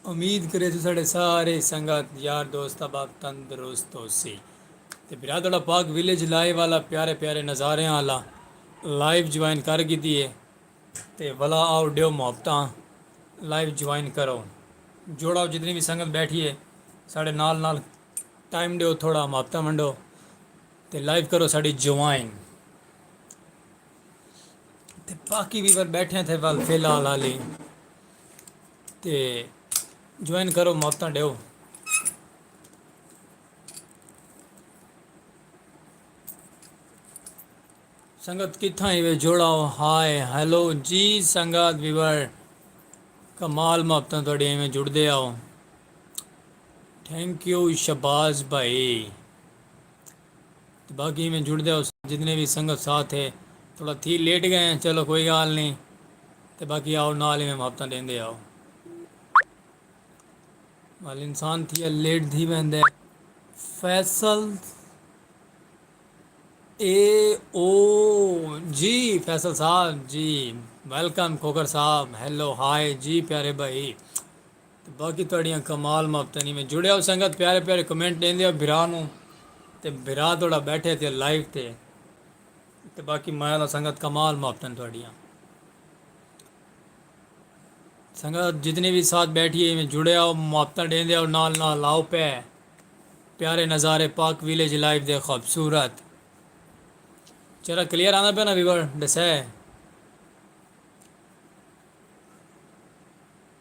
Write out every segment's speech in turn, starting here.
امید کرے تساڈے سارے سنگت یار دوست احباب تندرست ہوسی تے برادڑا پاک ولیج لائیو والا پیارے پیارے نظاریاں آلا لائیو جوائن کر گھدی ہے تے ولا آؤ ڈیو محبتاں لائیو جوائن کرو جوڑاؤ جتنی وی سنگت بیٹھی ہے ساڈے نال نال ٹائم ڈیو تھوڑا محبتاں ونڈو تے لائیو کرو ساڈی جوائن تے باقی ویور بیٹھے تھے ول فی الحال حالی تے جوائن کرو موتاں ڈیو۔ سنگت کتھاں ہیوے جوڑاؤ ہائے ہیلو جی سنگت ویور کمال محبتاں تہاڈیاں ایویں جڑدے آؤ تھینک یو شہباز بھائی۔ تے باقی ایویں جڑدے ہوس جتنے وی سنگت ساتھ ہے تھوڑا تھی لیٹ گئے ہیں چلو کوئی گال نہیں تے باقی آؤ نال ایویں محبتاں ڈیندے آؤ وال انسان تھی ا لیٹ تھی ویندے فیصل اے او جی فیصل صاحب جی ویلکم کھوکر صاحب ہیلو ہائے جی پیارے بھائی تے باقی تہاڈیاں کمال مافتنی میں جڑے او سنگت پیارے پیارے کمنٹ ڈیندے او بھرا نو تے بھرا تہاڈا بیٹھے تے لائیو تے تے باقی مایا اللہ سنگت کمال مافتن تہاڈیاں سنگت جتنے بھی ساتھ بیٹھی ہے میں جڑے او مافتن ڈیندے او نال نال آؤ پے پیارے نظارے پاک ویلیج لائیو دے خوبصورت چرا کلیئر آنا پہ نا ویور ڈسے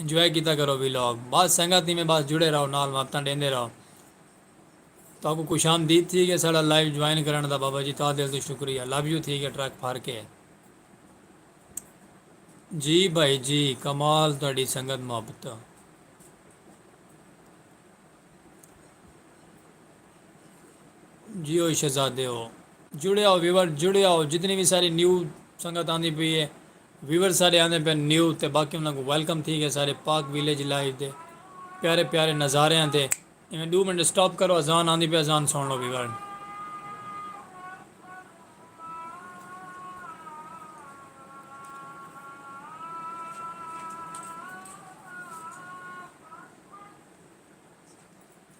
انجوائے کیتا کرو وی لاگ بس سنگت ایویں بس جڑے رہو نال مدتاں ڈیندے رہو تہاکوں خوش آمدید تھی گئے ساڈا لائیو جوائن کرن دا بابا جی تہا دل توں شکریہ لو یو تھی گئے ٹرک پھر کے جی بھائی جی کمال تہاڈی سنگت محبت۔ جیو شہزادے ہو جڑے آؤ ویور جڑے آؤ جتنی بھی ساری نیو سنگت آندی پی ہے ویور سارے آندے پہ نیو تے باقی انہوں کو ویلکم تھی گئے سارے پاک ویلیج لائیو دے پیارے پیارے نظارے ہیں تے انہیں دو منٹ سٹاپ کرو ازان آندی پہ ازان سن لو ویور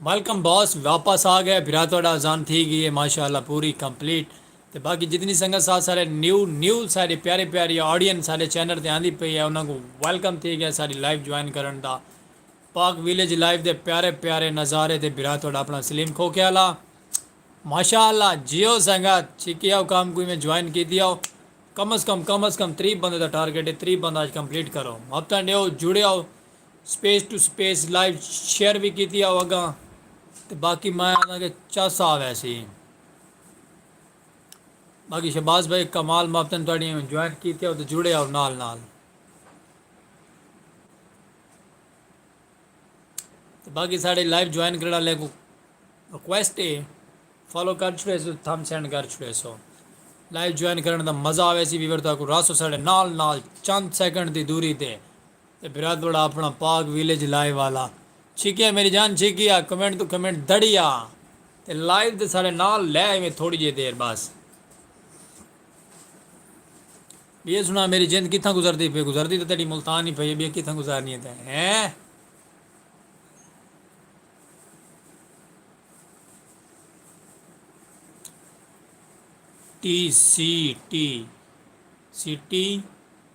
ویلکم باس واپس آ گئے بھرا تہاڈا اذان تھی گئی ہے ماشاءاللہ پوری کمپلیٹ تے باقی جتنی سنگت ساتھ سارے نیو نیو ساری پیاری پیاری آڈینس سارے چینل تے آندی پئی ہے انہاں کو ویلکم تھی گیا ساری لائیو جوائن کرن دا پاک ویلیج لائیو دے پیارے پیارے نظارے تے بھرا تہاڈا اپنا سلیم کھوکے والا ماشاءاللہ جیو سنگت چھکی او کام کوئی میں جوائن کیتی او کم از کم کم از کم 30 بندے دا ٹارگٹ ہے 30 بندہ اج کمپلیٹ کرو ہفتہ ڈیو جڑے او space to space live share وی کیتی آؤ اگاں تے باقی میں آنا کہ چس آ ویسی باقی شہباز بھائی کمال ماپتن تھوڑی جوائن کیتے آؤ تو جڑے آؤ نال نال تے باقی ساڑے لائیو جوائن کرنا لے کو ریکویسٹ ہے فالو کر چھوڑے سو تھم سینڈ کر چھوڑے سو لائیو جوائن کرنے دا مزہ آوے سی ویور تاکو راسو ساڑے نال نال چند سیکنڈ دی دوری تے تے بھرا توڑا اپنا پاک ویلیج لائیو والا چھکیا میری جان چھکیا کمنٹ توں کمنٹ دڑیا تے لائیو تے ساڑے نال لے ایویں تھوڑی جے دیر بس بیے سنا میری جند کتھاں گزردی پے گزردی تے تیڈی ملتان ہی پئی بیے کتھاں گزارنی ہے تے ہیں ٹی سی ٹی سی ٹی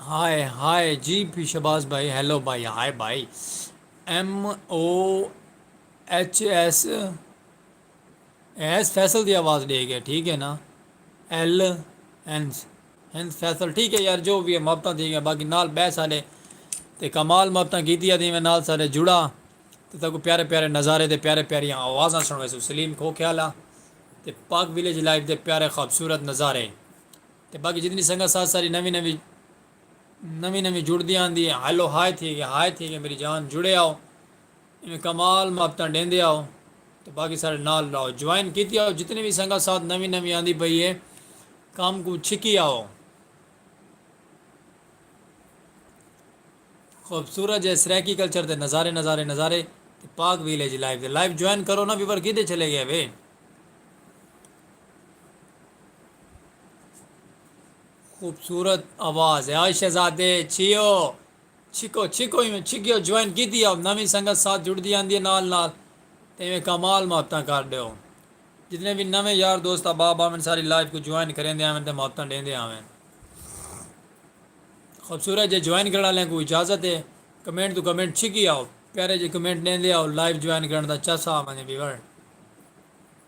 ہائے ہائے جی پی شہباز بھائی ہیلو بھائی ہائے بھائی M O H S S Faisal دی آواز ڈے گیا ٹھیک ہے نا ایل اینس ہنس فیصل ٹھیک ہے یار جو بھی ہے مفتا تھی گیا باقی نال بہ سارے تے کمال مفتا کیتی آدھی میں نال سارے جڑا تے تاکو پیارے پیارے نظارے تے پیارے پیاری آوازاں سنوے سو سلیم کھو خیالہ تے پاک ویلیج لائف دے پیارے خوبصورت نظارے تے باقی جتنی سنگت ساتھ ساری نوی نوی نوی نوی جڑدی آندی ہے ہیلو ہائے تھی گیا ہائے تھی گیا میری جان جڑے آؤ ایویں کمال محبتاں ڈیندے آؤ تے باقی سارے نال رہو جوائن کیتی آؤ جتنی بھی سنگت ساتھ نوی نوی آندی پئی ہے کام کو چھکی آؤ خوبصورت جے سریکی کلچر دے نظارے نظارے نظارے تے پاک ویلیج لائیو دے لائیو جوائن کرو نا ویور کیدے چلے گئے وے خوبصورت آواز ہے آج شہزادے چھیو چھکو چھکو ہی میں چھکیو جوائن کی دیا نوی سنگت ساتھ جڑ دی آندی ہے نال نال تے میں کمال محبتاں کر دیو جتنے بھی نویں یار دوست احباب آویں ساری لائف کو جوائن کریں دے آویں تے محبتاں دیں دے آویں خوبصورت جے جوائن کرنے والے کو اجازت ہے کمنٹ تو کمنٹ چھکی آؤ پیارے جے کمنٹ دیں دے آؤ لائف جوائن کرنے دا چاسا آویں ویور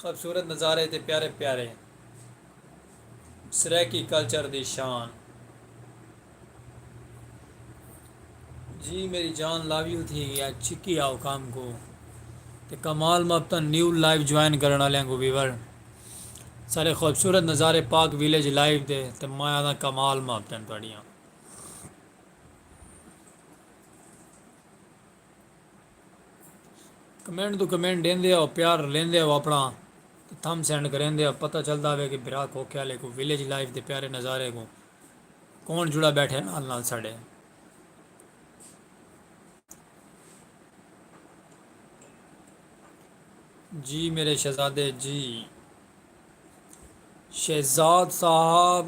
خوبصورت نظارے تے پیارے پیارے سرائیکی کلچر دی شان۔ جی میری جان لاویو تھی گیا چھکی آؤ کام کو تے کمال مبتا نیو لائیو جوائن کرن والے کو ویور سارے خوبصورت نظارے پاک ویلیج لائیو دے تے میں آدھا کمال مبتا تھوڑیاں کمنٹ توں کمنٹ ڈیندے ہو پیار رلیندے ہو اپنا تے تھم سینڈ کریندے ہو پتہ چلدا ہوے کہ بھرا کھوکھے والے کو ویلیج لائف دے پیارے نظارے کو کون جڑا بیٹھے نال نال ساڈے جی میرے شہزادے جی شہزاد صاحب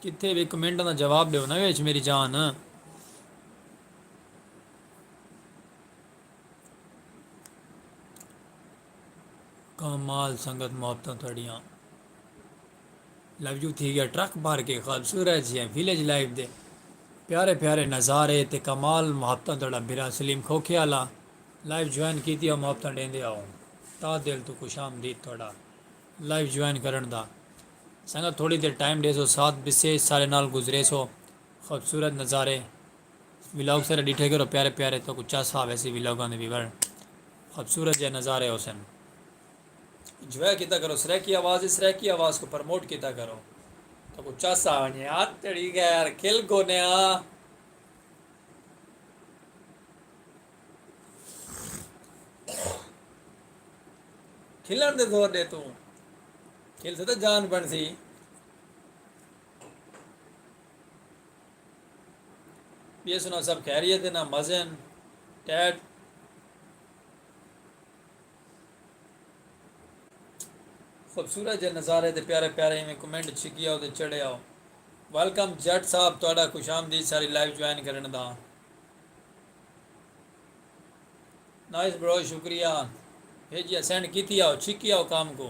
کتھے بھی کمنٹ دا جواب دیو نا ویچ میری جان کمال سنگت محبتاں تھوڑیاں لفظو تھی گیا ٹرک بھر کے خوبصورت جی ویلیج لائف دے پیارے پیارے نظارے تے کمال محبتاں تھوڑا بھرا سلیم کھوکھے والا لائف جوائن کیتی اور محبتاں ڈیندے آؤ تا دل تو خوش آمدید تھوڑا لائف جوائن کرن دا سنگت تھوڑی دیر ٹائم دے سو ساتھ بسے سارے نال گزرے سو خوبصورت نظارے ولاگ سارے ڈیٹھے کرو پیارے پیارے تو کو چس آوے سی ولاگاں دے ویور خوبصورت جے نظارے ہو سن انجوائے کیتا کرو سریکی آواز ہے سریکی آواز کو پرموٹ کیتا کرو تو کو چس آ ونجے آ تیری غیر کھل گونے آ کھلن دے زور دے تو کھل سے تو جان بن سی ٻیے سناؤ سب خیریت ہے نا مزے ہیں ٹیٹ خوبصورت جے نظارے تے پیارے پیارے ایویں کمنٹ چھکی آؤ تے چڑھے آؤ ویلکم جٹ صاحب تہاڈا خوش آمدید ساری لائیو جوائن کرن دا نائس برو شکریہ بھیجیا سینڈ کیتی آؤ چھکی آؤ کام کو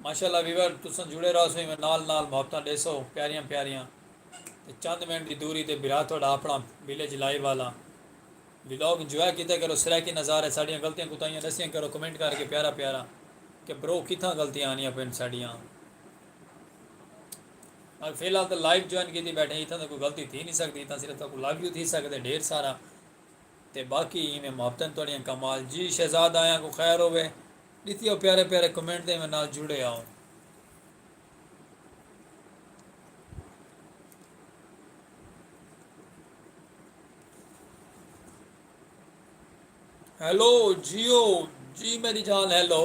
ماشاءاللہ ویور تساں جڑے رہو سو میں نال نال محبتاں ڈے سو پیاریاں پیاریاں تے چند منٹ دی دوری تے بھرا تھوڑا اپنا ویلیج لائیو والا ویلوگ انجوائے کیتا کرو سرائیکی نظارے ساڑیاں غلطیاں کوتاہیاں دسیاں کرو کمنٹ کر کے پیارا پیارا کہ برو کتھاں غلطیاں آنیاں پین ساڑیاں میں فی الحال تو لائیو جوائن کیتی بیٹھے اتھاں تو کوئی غلطی تھی نہیں سکتی اتھاں صرف تو لائیو تھی سکتے ڈھیر سارا تے باقی ایویں محبتن تہاڈیاں کمال جی شہزاد آیاں کوں خیر ہووے ڈتی او پیارے پیارے کمنٹ دے میں نال جڑے آؤ۔ ہیلو جیو جی میری جان ہیلو۔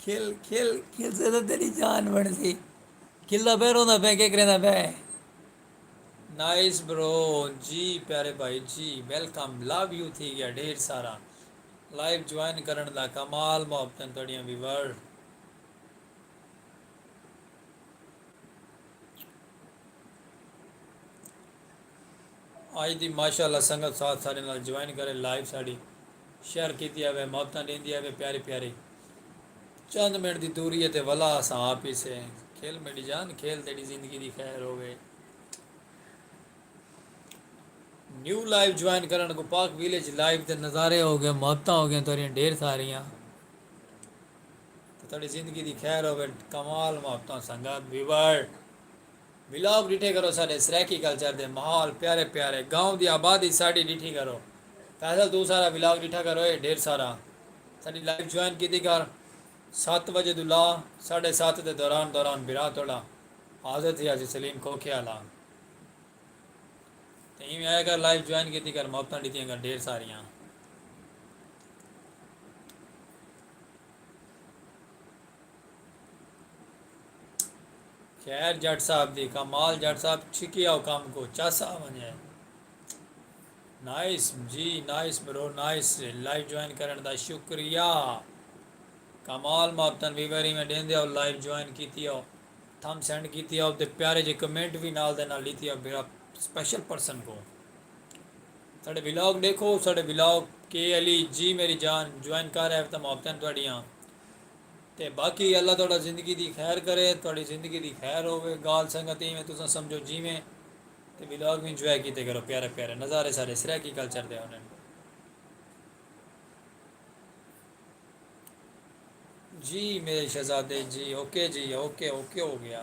کھل کھل کھل سے تو تیری جان بن سی کھل دا پہ روندا پہ کے کریں دا پہ نائس برو جی پیارے بھائی جی ویلکم لو یو تھی گیا ڈھیر سارا لائیو جوائن کرن دا کمال محبتیں تڑیاں بھی ور آج دی ماشاءاللہ سنگت ساتھ سارے نال جوائن کرے لائیو ساڑی شہر کیتی آوے محبتاں ݙیندی آوے پیاری پیاری چند منٹ دی دوری اے تے ولا اساں آ پیسے کھل میݙی جان کھیل تیݙی زندگی دی خیر ہووے نیو لائیو جوائن کرن کو پاک ویلیج لائیو دے نظارے ہو گئے محبتاں ہو گئے تیریاں ڈھیر ساریاں تیری زندگی دی خیر ہووے کمال محبتاں سنگت ویور ولاگ ڈٹھے کرو ساڈے سرائیکی کلچر دے ماحول پیارے پیارے گاؤں دی آبادی ساڈی ڈٹھی کرو فیصل توں سارا ولاگ ڈٹھا کرو اے ڈھیر سارا ساڈی لائیو جوائن کیتی کر ست وجے توں لا ساڈے ست دے دوران دوران بھرا تہاڈا حاضر تھی آسی سلیم کھوکھے آلا تے ایویں آیا کر لائیو جوائن کیتی کر محبتاں ڈتیاں کر ڈھیر ساریاں۔ خیر جٹ صاحب دی کمال جٹ صاحب چھکیا او کام کو چس آ ونجے نائس جی nice bro nice live join کرن دا شکریہ کمال مابتن بھی ویری میں ڈین دیا لائیو جوائن کیتی او تھم سینڈ کیتی او تے پیارے جے کمنٹ بھی نال دے نال لیتی او میرا سپیشل پرسن کو ساڑے ولاگ دیکھو ساڑے ولاگ کے علی جی میری جان جوائن کر ہے تا مابتن تواڈیاں تے باقی اللہ تہاڈا زندگی دی خیر کرے تہاڈی زندگی دی خیر ہووے گال سنگت ایویں تساں سمجھو جیویں تے ولاگ وی انجوائے کیتے کرو پیارے پیارے نظارے سارے سرائیکی کلچر دے ہوندے نے جی میرے شہزادے جی اوکے جی اوکے اوکے ہو گیا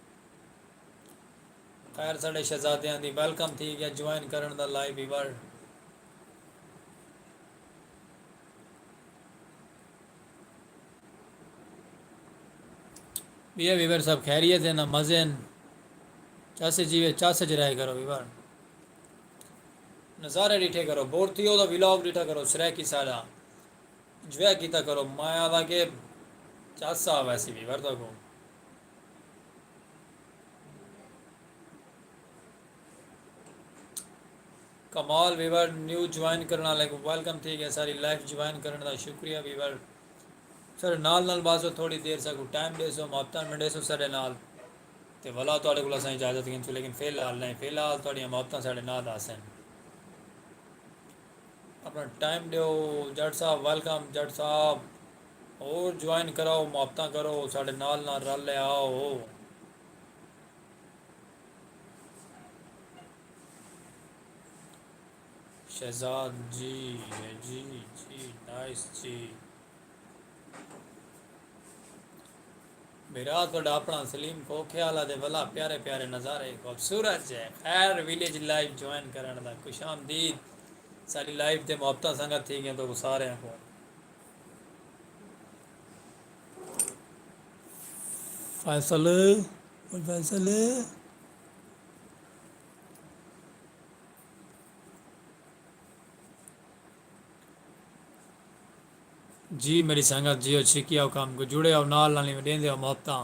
خیر ساڈے شہزادیاں دی ویلکم تھی گیا جوائن کرن دا لائیو ہی ورڈ یہ ویور صاحب خیریت ہے نا مزے ہیں چاسے جیوے چاسے چ رہے کرو ویور نظارے ڈیٹھے کرو بور تھی ہو تو ولاگ ڈیٹھا کرو سرائکی سارا انجوائے کیتا کرو مایا دا کہ چاسا ویسی ویور تو کو کمال ویور نیو جوائن کرنا لے کو ویلکم تھی گیا ساری لائف جوائن کرنا دا شکریہ ویور سر نال نال باسو تھوڑی دیر سا کو ٹائم دے سو محبتہ میں دے سو سارے نال تے ولا تھوڑے کو لسائیں اجازت گھن سو لیکن فیل حال نہیں فیل حال تھوڑی محبتہ سارے نال دا سن اپنا ٹائم دے ہو جڑ صاحب ویلکم جڑ صاحب ہور جوائن کراؤ محبتاں کرو ساڈے نال نال رل تے آؤ۔ شہزاد جی ہے جی جی نائس جی میرا تھوڑا اپنا سلیم کوکھیال دے ولا پیارے پیارے نظارے خوبصورت ہے خیر ویلیج لائف جوائن کرن دا خوش آمدید ساری لائف دے محبتاں سنگت تھی گئے تو سارے کو فیصل فیصل جی میری سنگت جیو چھکی آؤ کام کو جڑے آؤ نال نالی میں دیں دے آؤ محبتاں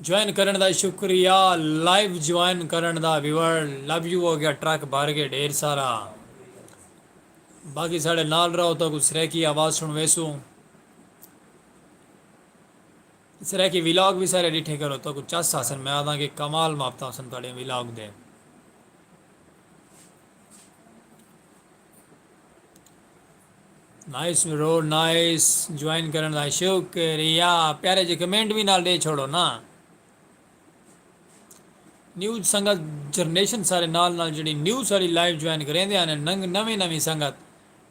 جوائن کرݨ دا شکریہ لائیو جوائن کرݨ دا ویور لو یو ہو گیا ٹرک بھر گئے ڈھیر سارا باقی ساڑے نال رہو تو کو سریکی آواز سن ویسو سریکی ویلاگ بھی سارے ڈٹھے کرو تو کو چس آسن میں آدھاں کہ کمال مافتا آسن تاڑے ویلاگ دے نائس برو نائس جوائن کرن دا شکریہ پیارے جے کمنٹ بھی نال ڈے چھوڑو نا نیوز سنگت جرنیشن سارے نال نال جڑی نیو ساری لائیو جوائن کریں دے آنے ننگ نویں نویں سنگت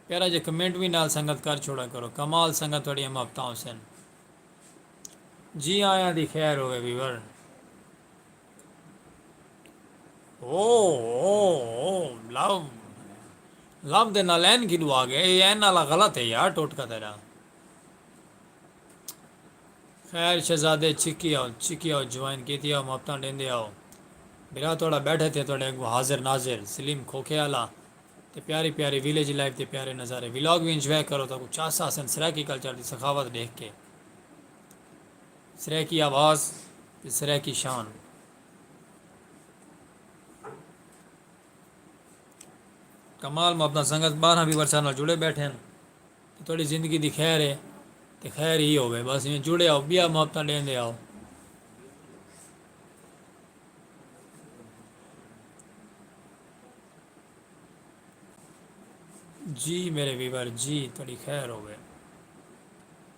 پیارا جے کمنٹ بھی نال سنگت کر چھوڑا کرو کمال سنگت تھوڑی ہم ہفتہ حسین جی آیاں دی خیر ہوئے ویور او او او لو لو دے نال این کی ڈوا گیا اے این والا غلط ہے یار ٹوٹ کا تیرا خیر شہزادے چکی آؤ چکی آؤ جوائن کیتی آؤ مفتاں ڈیندے آؤ برا توڑا بیٹھے تھے توڑے اگو حاضر ناظر سلیم کھوکھے آلا تے پیاری پیاری ویلیج لائف تے پیارے نظارے ویلاگ بھی انجوائے کرو تو کو چاس آسن سرائیکی کلچر دی سخاوت دیکھ کے سرائیکی آواز تے سرائیکی شان۔ کمال محبتاں سنگت بارہاں وی ورثہ نال جڑے بیٹھے ہن تے تہاڈی زندگی دی خیر ہے تے خیر ہی ہووے بس ایویں جڑے آؤ بیا محبتاں ڈیندے آؤ۔ جی میرے ویور جی تہاڈی خیر ہووے۔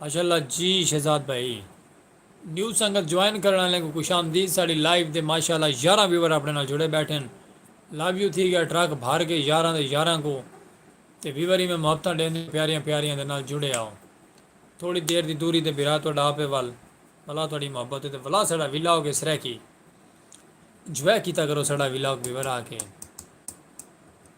ماشاء اللہ جی شہزاد بھائی۔ نیو سنگت جوائن کرن آلیاں کوں خوش آمدید ساڈی لائیو تے ماشاء اللہ یارہاں ویور آپنے نال جڑے بیٹھے ہن لو یو تھی گیا ٹرک بھر کے یارہاں دے یارہاں کوں تے ویور ایویں محبتاں ڈیندے پیاریاں پیاریاں دے نال جڑے آؤ تھوڑی دیر دی دوری تے بھرا تہاڈا آپے ول ولا تہاڈی محبت ہے تے ولا ساڈا ولاگ ہے سرائیکی انجوائے کیتا کرو ساڈا ولاگ ویور آ کے۔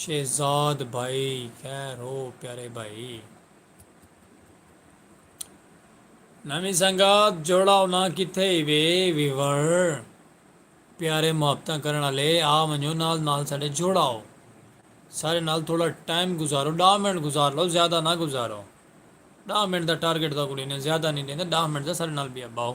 شہزاد بھائی خیر ہو پیارے بھائی نمی سنگات جوڑا ہونا کتھے ہی وے ویور پیارے محبت کرن والے آ ونجو نال نال سارے جوڑا ہو سارے نال تھوڑا ٹائم گزارو ڈا منٹ گزار لو زیادہ نہ گزارو ڈا منٹ دا ٹارگیٹ دا کوئی نہیں زیادہ نہیں دینا ڈا منٹ دا سارے نال بیا باؤ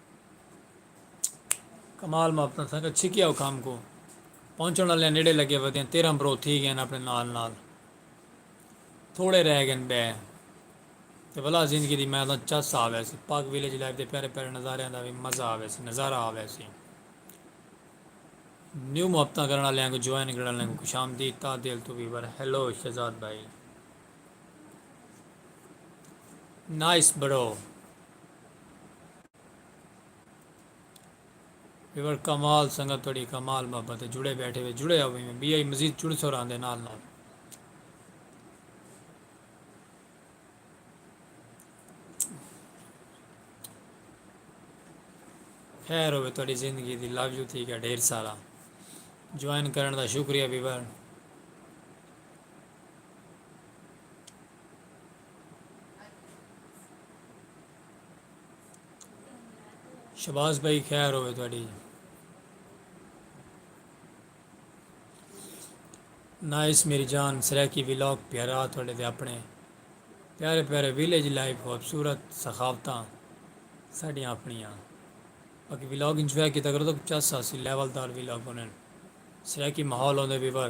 کمال مابتاں سنگت چھکیا او کھام کو پہنچن والے نیڑے لگے ودیاں تیرہ برو تھی گئے اپنے نال نال تھوڑے رہ گئے بے تے ولا زندگی دی میدان چس آ وے سی پاک ویلیج لائف دے پیارے پیارے نظاریاں دا بھی مزہ آ وے سی نظارہ آ وے سی نیو محبتاں کرن والے کو جوائن کرن والے کو خوش آمدید تا دل تو بھی بر ہیلو شہزاد بھائی نائس برو بیور کمال سنگت تھوڑی کمال محبت ہے جڑے بیٹھے ہوئے جڑے آوے میں بی آئی مزید جڑ سو راندے نال نال خیر ہوئے تھوڑی زندگی دی لو یو تھی گیا ڈھیر سارا جوائن کرن دا شکریہ بیور شباز بھائی خیر ہوئے تھوڑی نائس میری جان سریکی ولاگ پیارا تھوڑے دے اپنے پیارے پیارے ویلیج لائف خوبصورت سخاوتاں ساڑیاں اپنیاں باقی ولاگ انجوائے کیتا کرو تو چس آسی لیول دار ولاگ ہونے سریکی ماحول ہوندے بھی بھر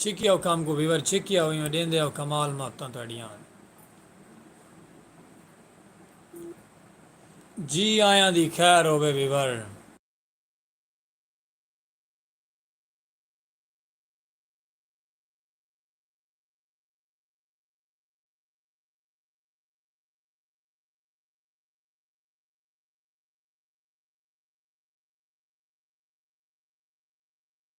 چھکیا او کم کوں ویور چھکیا او ایویں ڈیندے او کمال محبتاں تہاڈیاں ہن۔ جی آیاں دی خیر ہووے ویور۔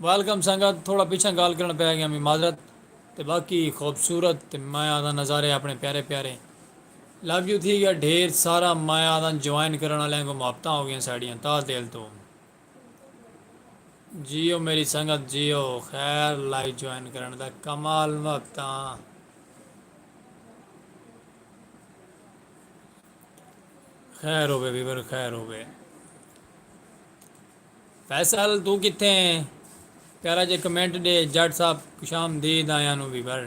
ویلکم سنگت تھوڑا پچھاں گال کرن پے گیا می معذرت تے باقی خوبصورت تے میں آدھاں نظارے اپنے پیارے پیارے لو یو تھی گیا ڈھیر سارا میں آدھاں جوائن کرن والے کو محبتاں ہو گیا ساڑیاں تاہ دل تو جیو میری سنگت جیو خیر لائیو جوائن کرن دا کمال وقتاں خیر ہوے ویور خیر ہوے فیصل توں کتھے ہیں پیارا جے کمنٹ ڈے جٹ صاحب خوشامدید آیاں نوں وی بھر۔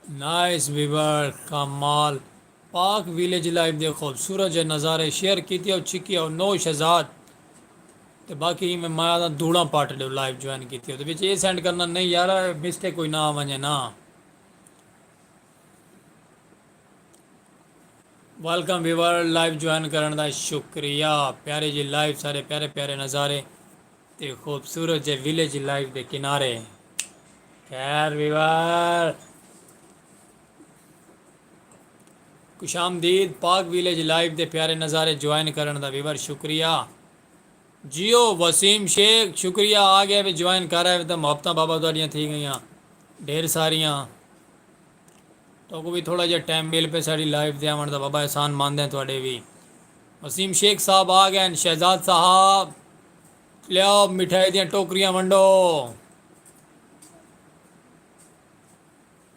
نائس ویور کمال پاک ویلیج لائف دے خوبصورت جئے نظارے شیئر کیتے او چھکی او نو شہزاد تے باقی ہی میں مایا دا دھوڑاں پارٹی ڈو لائف جوائن کیتے او تے وچ اے سینڈ کرنا نہیں یارا مسٹیک کوئی نہ ونجے نا ویلکم ویور لائف جوائن کرن دا شکریہ پیارے جی لائف سارے پیارے پیارے نظارے تے خوبصورت جئے ویلیج لائف دے کنارے خیر ویور خوش آمدید پاک ویلیج لائیو دے پیارے نظارے جوائن کرن دا ویور شکریہ جیو وسیم شیخ شکریہ آ گیا وچ جوائن کر آئے وتا محبتاں بابا تہاڈیاں تھی گئیاں ڈھیر ساریاں تو کو بھی تھوڑا جہا ٹائم مل پے ساڈی لائیو دے آون دا بابا احسان مند ہیں تہاڈے وی وسیم شیخ صاحب آ گئے شہزاد صاحب لیاؤ مٹھائی دیاں ٹوکریاں ونڈو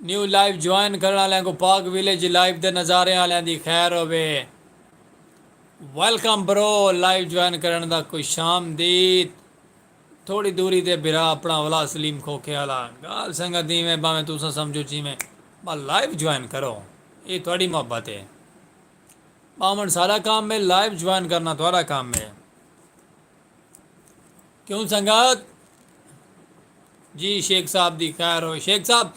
نیو لائیو جوائن کرن آلیاں کو پاک ویلیج لائیو دے نظاریں آلیاں دی خیر ہووے ویلکم برو لائیو جوائن کرن دا کوئی شام دید تھوڑی دوری تے بھرا اپنا اولا سلیم کھوکھے آلا گال سنگا دیویں باویں توسا سمجھو چیویں با لائیو جوائن کرو یہ تھوڑی محبت ہے باومن سارا کام میں لائیو جوائن کرنا تھوڑا کام میں کیوں سنگت جی شیخ صاحب دی خیر ہوئے شیخ صاحب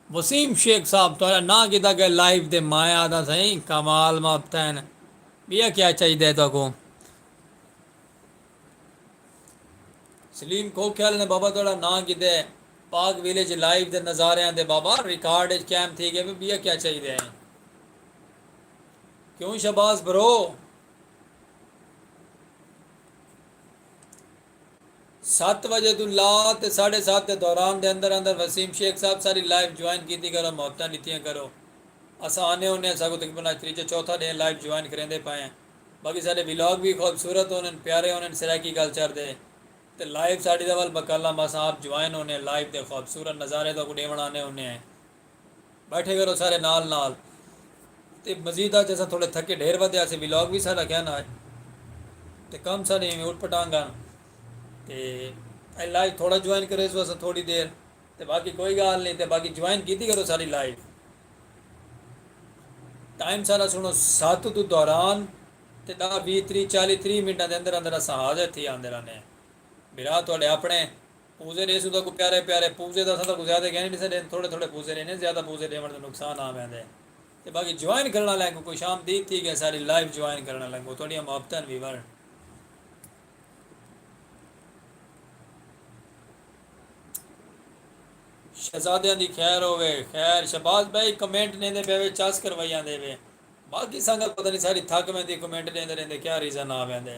وسیم شیخ صاحب تھوڑا نہ کیتا کہ لائیو دے مایا دا سائیں کمال مابتین بیا کیا چاہی دے تو کو سلیم کو خیال نے بابا تھوڑا نہ کیتے پاک ویلیج لائیو دے نظارے آن دے بابا ریکارڈ اچ کیم تھی گئے بیا کیا چاہی دے ہیں کیوں شباز برو ست وجے توں لا تے ساڑھے ست دے دوران دے اندر اندر وسیم شیخ صاحب ساری لائیو جوائن کیتی کرو محبتاں ڈتیاں کرو اساں آنے ہونے ہاں ساکوں تقریبا اج تریجا چوتھا ڈینہہ لائیو جوائن کریندے پئے ہیں باقی ساڈے ولاگ وی خوبصورت ہونن پیارے ہونن سرائیکی کلچر دے تے لائیو ساڈی دا ول بکالام اساں آپ جوائن ہونے ہیں لائیو دے خوبصورت نظارے تہاکوں ڈیون آنے ہونے ہیں۔ بیٹھے کرو سارے نال نال تے مزید اج اساں تھوڑے تھکے ڈھیر ودھے آسے ولاگ وی ساڈا کیا نا اج تے کم ساڈے ایویں اٹ پٹانگ ہن تے اے لائیو تھوڑا جوائن کرے سو اساں تھوڑی دیر تے باقی کوئی گال نہیں تے باقی جوائن کیتی کرو ساری لائیو ٹائم سارا سنو سات تو دوران تے دا بی تری چالی تری منٹاں دے اندر اندر اساں حاضر تھی آندے رہنے ہیں برا تھوڑے اپنے پوزے ݙے سودھا کوں پیارے پیارے پوزے دا سودھا کوں زیادہ گہنے ݙیسا ݙین تھوڑے تھوڑے پوزے ݙینے زیادہ پوزے ݙیوݨ دا نقصان آ ویندے تے باقی جوائن کرݨ آلیاں کوں خوش آمدید تھی ڳئے ساری لائیو جوائن کرݨ آلیاں کوں تہاݙیاں محبتاں وی ورن۔ شہزادیاں دی خیر ہووے خیر شہباز بھائی کمنٹ ݙیندے پئے وے چس کروائی آندے وے باقی سنگت پتہ نی ساری تھک ویندی کمنٹ ݙیندے ݙیندے کیا ریزن آ ویندے۔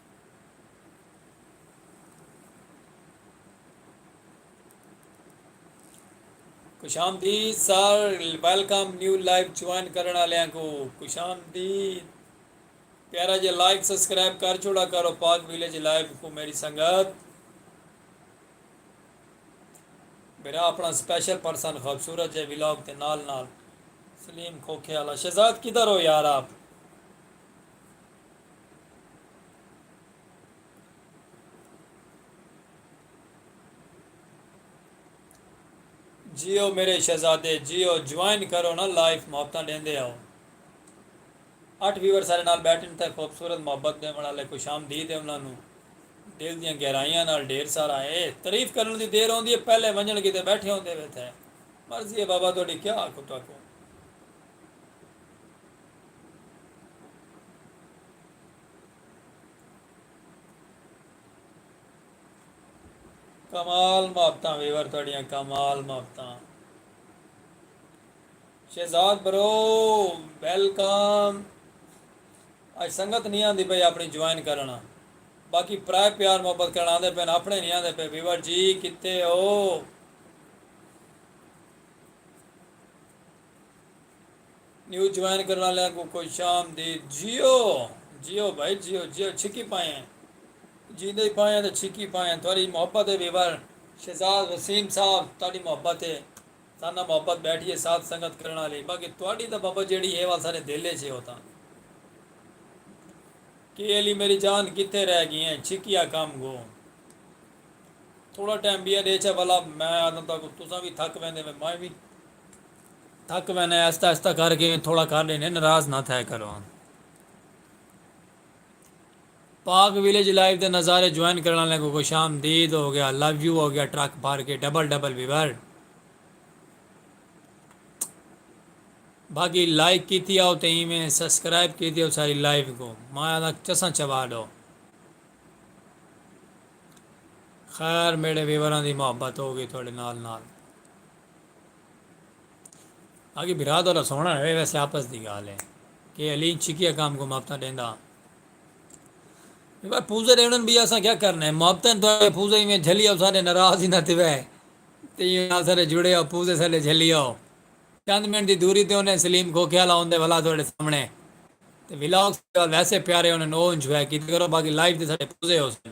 خوش آمدید sir welcome new life join کرن والے کو خوش آمدید پیارا جی لائک سبسکرائب کر چھوڑا کرو پاک ویلیج لائف کو میری سنگت میرا اپنا اسپیشل پرسن خوبصورت جے ویلاگ تے نال نال سلیم کھوکھے والا شہزاد کدھر ہو یار آپ جیو میرے شہزادے جیو جوائن کرو نا لائف محبتاں ڈیندے ہو اٹھ ویور سارے نال بیٹھن تے خوبصورت محبت دیون والے خوش آمدید ہے انہاں نو دل دیاں گہرائیاں نال ڈھیر سارا اے تعریف کرن دی دیر ہوندی ہے پہلے ونجن کیتے بیٹھے ہوندے وے تھے مرضی ہے بابا تہاڈی کیا آکھوں تہاکوں کمال محبتاں ویور تہاڈیاں کمال محبتاں شہزاد برو ویلکم اج سنگت نہیں آندی پئی اپنی جوائن کرنا باقی پرائے پیار محبت کرنا آندے پین اپنے نہیں آندے پے ویور جی کتے ہو نیو جوائن کرن آلیاں کوں خوش آمدید جیو جیو بھائی جیو جیو چھکی پائیں جیندے پائیں تے چھکی پائیں تہاڈی محبت ہے ویور شہزاد وسیم صاحب تہاڈی محبت ہے ساڈے نال محبت بیٹھی ہے ساتھ سنگت کرن آلی باقی تہاڈی تاں بابا جیڑھی ہے او اساڈے دل اچ ہے او تاں کے علی میری جان کتھے رہ گی ہیں چھکی آکھام گو تھوڑا ٹائم بیاں ڈیچھا بھلا میں آدھاں تہاکوں تساں وی تھک ویندے میں وی تھک وینے آہستہ آہستہ کر کے تھوڑا کر لینے ناراض نہ تھیا کرو پاک ویلیج لائف دے نظارے جوائن کرنے والے کو خوش آمدید ہو گیا لو یو ہو گیا ٹرک بھر کے ڈبل ڈبل ویور باقی لائک کیتی آؤ تے ایویں سبسکرائب کیتی آؤ ساری لائف کو مایا دا چساں چوا ڈو خیر میرے ویوراں دی محبت ہو گئی تھوڑے نال نال آکھیے بھرا تہاڈا سوہنڑا رہے ویسے آپس دی گالھ ہے کہ علی ان چھکیا کام کو محبتاں ڈیندا بھائی پوزے دے انہن بھی اساں کیا کرنا ہے محبتاں تو ہے پوزے میں جھلی آؤ سارے ناراض ہی نہ تھے وے تے نال سارے جڑے آؤ پوزے سارے جھلی آؤ چند منٹ دی دوری تے انہیں سلیم کھوکھے والا ہوندے والا تہاڈے سامنے تے ولاگ سارے ویسے پیارے انہن او انجوائے کیتے کرو باقی لائیو تے سارے پوزے ہو سن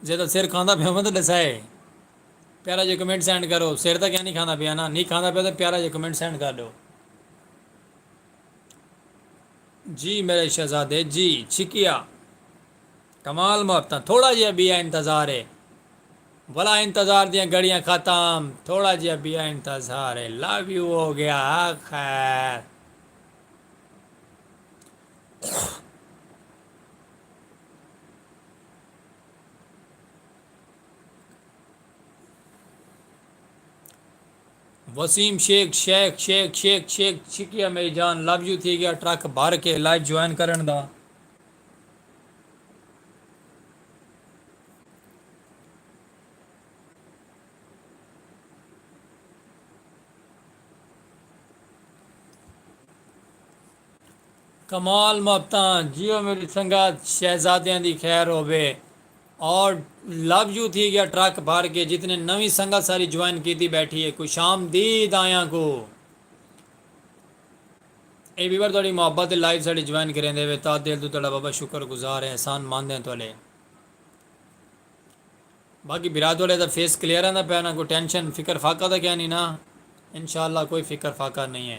جیڑھا سر کھاندا پیا ہووے تے ڈسائے پیارا جیا کمنٹ سینڈ کرو سر تاں کیا نی کھاندا پیا نا نی کھاندا پیا تاں پیارا جیا کمنٹ سینڈ کر ڈیو جی میرے شہزادے جی چھکیا کمال محبتاں تھوڑا جیا بیا انتظار ہے بھلا انتظار دیاں گھڑیاں ختم تھوڑا جیا بیا انتظار ہے لو یو ہو گیا خیر وسیم شیخ شیخ شیخ شیخ شیخ شکریہ میری جان لو یو تھی گیا ٹرک بھر کے لائیو جوائن کرن دا کمال محبتاں جیو میڈی سنگت شہزادیاں دی خیر ہووے اور لو یو تھی گیا ٹرک بھر کے جتنے نویں سنگت ساری جوائن کیتی بیٹھی ہے خوش آمدید آیاں کو اے ویور تہاڈی محبت تے لائیو ساڈے جوائن کریندے وے تاں دل توں تہاڈا بابا شکر گزار ہیں احسان مند ہیں تہاڈے باقی بھرا تہاڈے دا فیس کلیئر آندا پیا نا کوئی ٹینشن فکر فاقہ دا کیا نہیں نا انشاءاللہ کوئی فکر فاقہ نہیں ہے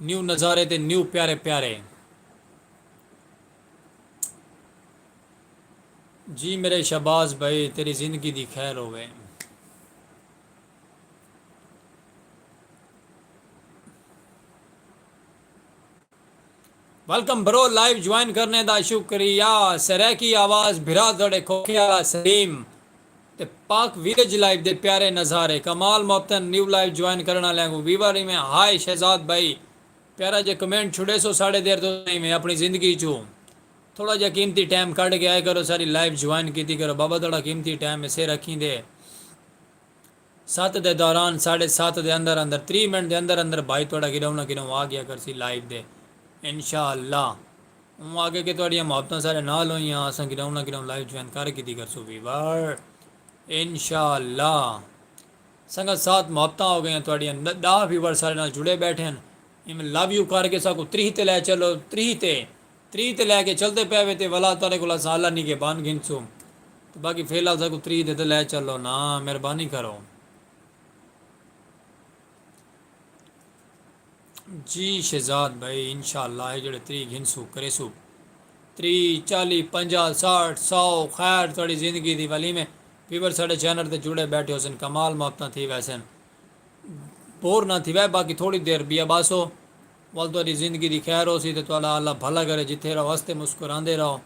نیو نظارے تے نیو پیارے پیارے جی میرے شہباز بھائی تیری زندگی دی خیر ہووے ویلکم برو لائیو جوائن کرنے دا شکریہ سرائیکی آواز بھرا تہاڈے کھوکھے آلا سلیم تے پاک ویلیج لائیو دے پیارے نظارے کمال محبتن نیو لائیو جوائن کرن آلیاں کوں ویوا ریویں ہائے شہزاد بھائی پیارا جے کمنٹ چھڈیسو ساڈے دیر توں ریویں اپنی زندگی چوں تھوڑا جیا قیمتی ٹائم کڈھ کے آئے کرو ساڈی لائیو جوائن کیتی کرو بابا تہاڈا قیمتی ٹائم ہے سیر اکھیں دے ست دے دوران ساڈے ست دے اندر اندر تریہہ منٹ دے اندر اندر بھائی تہاڈا گڈاؤں نہ گڈاؤں آ گیا کرسی لائیو دے انشاءاللہ اوں آکھے کہ تہاڈیاں محبتاں ساڈے نال ہوئیاں اساں گڈاؤں نہ گڈاؤں لائیو جوائن کر گھدی کرسوں ویور انشاءاللہ سنگت سات محبتاں ہو گئیاں تہاڈیاں ڈاہ ویور ساڈے نال جڑے بیٹھے ہن ایم لو یو کر کے ساکوں تریہہ تے لے چلو تریہہ تے تریہہ تے لے کے چلدے پئے وے تے ولا تہاڈے کولوں اساں اللہ نگہبان گھنسوں تے باقی فی الحال ساکوں تریہہ تے تے لے چلو نا مہربانی کرو جی شہزاد بھائی انشاءاللہ اے جڑے تریہہ گھنسوں کریسوں تریہہ چالیہہ پنجاہ ساٹھ سو خیر تہاڈی زندگی دی ولی میں ویور ساڈے چینل تے جڑے بیٹھے ہوسن کمال محبتاں تھی ویسن بور نا تھی وے باقی تھوڑی دیر بیاباسو ول تہاݙی زندگی دی خیر ہوسی تے تہاݙا اللہ بھلا کرے جتھے رہو ہسدے مسکراندے رہو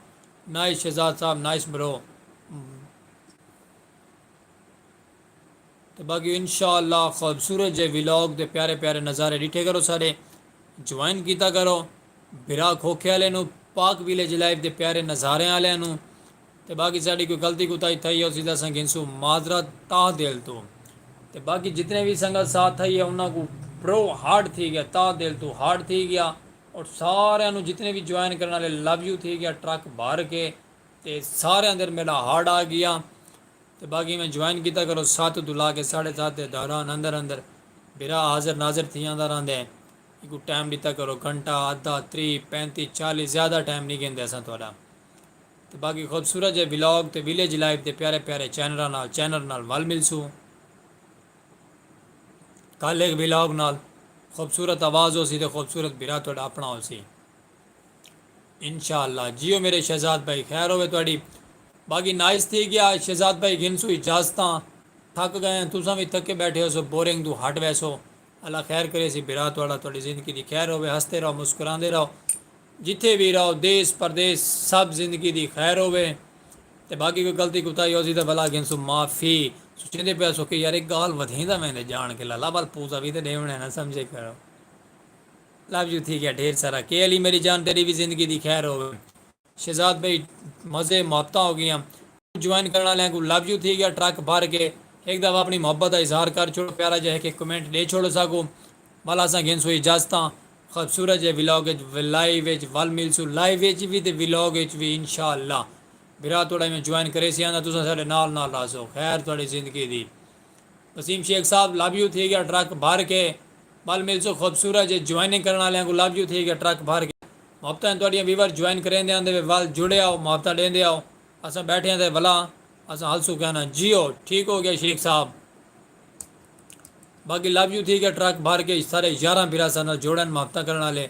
نائس شہزاد صاحب نائس برو تے باقی انشاء اللہ خوبصورت جے ولاگ تے پیارے پیارے نظارے ڈٹھے کرو سارے جوائن کیتا کرو بھرا کھوکھے والے نو پاک ویلیج لائف دے پیارے نظارے والے نو تے باقی ساڈی کوئی غلطی کوتاہی تھئی ہوسی تے اساں گھنسوں معذرت تہہ دل توں تے باقی جتنے وی سنگت ساتھ ہئی ہے انہاں کوں برو ہارڈ تھی گیا تہہ دل توں ہارڈ تھی گیا اور ساریاں نوں جتنے وی جوائن کرن والے لو یو تھی گیا ٹرک بھر کے تے سارے اندر میڈا ہارڈ آ گیا تے باقی میں جوائن کیتا کرو سات توں لا کے ساڈھے سات دے دوران اندر اندر بھرا حاضر ناظر تھی آندا رہندے ایکوں ٹائم ڈیتا کرو گھنٹہ ادھا تری پینتی چالی زیادہ ٹائم نہیں گھندے اساں تہاڈا۔ تے باقی خوبصورت جئے ولاگ تے ویلیج لائف دے پیارے پیارے چینراں نال چینر نال ول ملسوں کل ہک ولاگ نال خوبصورت آواز ہوسی تے خوبصورت بھرا تہاڈا اپنا ہوسی انشاءاللہ جیو میرے شہزاد بھائی خیر ہووے تہاڈی باقی نائس تھی گیا شہزاد بھائی گھنسوں اجازتاں تھک گئے ہیں تساں وی تھکے بیٹھے ہوسو بورنگ توں ہٹ ویسو اللہ خیر کریسی بھرا تہاڈا تہاڈی زندگی دی خیر ہووے ہستے رہو مسکراندے رہو جتھے وی رہو دیس پردیس سب زندگی دی خیر ہووے تے باقی کوئی غلطی کوتاہی ہوسی تاں بھلا گھنسوں معافی۔ سوچیندے پئے ہسو کہ یار اے گالھ ودھیندا ویندے جان کے لالا ول پوزا وی تاں ڈیونڑ ہے نا سمجھے کرو لو یو تھی گیا ڈھیر سارا کے علی میری جان تیڈی وی زندگی دی خیر ہووے شہزاد بھائی مزے محبتاں ہو گیاں کجھ جوائن کرن آلیاں کوں لو یو تھی گیا ٹرک بھر کے ہک دفعہ اپنی محبت دا اظہار کر چھوڑو پیارا جیہا ہک ہک کمنٹ ڈے چھوڑو ساکوں ول اساں گھنسوں اجازتاں۔ خوبصورت جئے ولاگ اچ ولائیو اچ ول ملسوں لائیو اچ وی تے ولاگ اچ وی انشاء اللہ بھرا توڑا ایویں جوائن کریسی آں تاں تساں ساڈے نال نال راہسو خیر توڑی زندگی دی وسیم شیخ صاحب لو یو تھی گیا ٹرک بھر کے ول ملسوں خوبصورت جئے جوائننگ کرن آلیاں کوں لو یو تھی گیا ٹرک بھر کے محبتاں توڑیاں ویور جوائن کریندے آندے وے ول جڑے آؤ محبتاں ڈیندے آؤ اساں بیٹھے آں تے ولا اساں ہلسوں کہناں جیو ٹھیک ہو گیا شیخ صاحب۔ باقی لب یوں تھی گیا ٹرک بھر کے سارے یاراں بھیرا سا نال جوڑن محبتاں کرن آلے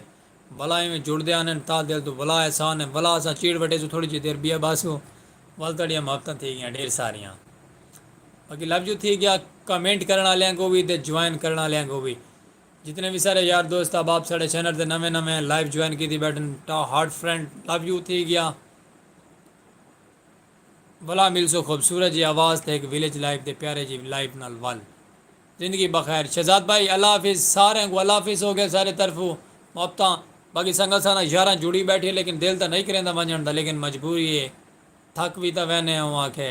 ولا ایویں جڑدے آنن تاں دل توں ولا احسان ہے ولا اساں چیڑ وٹے سوں تھوڑی جی دیر بیئے باسوں ول تہاڈیاں محبتاں تھی گیاں ڈھیر ساریاں باقی لب یوں تھی گیا کمنٹ کرن آلیاں کو وی تے جوائن کرن آلیاں کو وی جتنے وی سارے یار دوست احباب ساڈے چینل تے نویں نویں لائیو جوائن کیتی بیٹھن ٹا ہارٹ فرینڈ لب یوں تھی گیا۔ بھلا ملسو خوبصورت جی آواز تے ہک ویلیج لائف دے پیارے جی لائف نال ول۔ زندگی بخیر شہزاد بھائی اللہ حافظ ساریں کوں اللہ حافظ ہوگئے سارے طرفوں محبتاں باقی سنگت سانگت یاراں جڑی بیٹھی لیکن دل تاں نہیں کریندا ونجنڑ دا لیکن مجبوری اے تھک وی تاں وینے اوں آکھے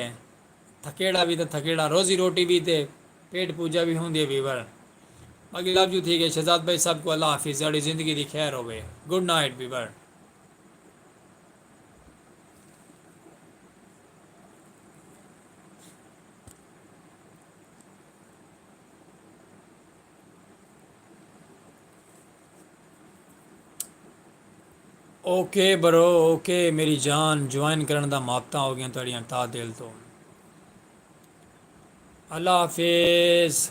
تھکیڑا وی تاں تھکیڑا روزی روٹی وی تے پیٹ پوجا وی ہوندی اے ویور باقی لو یو تھیک اے شہزاد بھائی سب کوں اللہ حافظ تہاڈی زندگی دی خیر ہووے good night viewer. Okay bro okay میری جان جوائن کرن دا محبت ہو گیا تھوڑی تا دل تو اللہ حافظ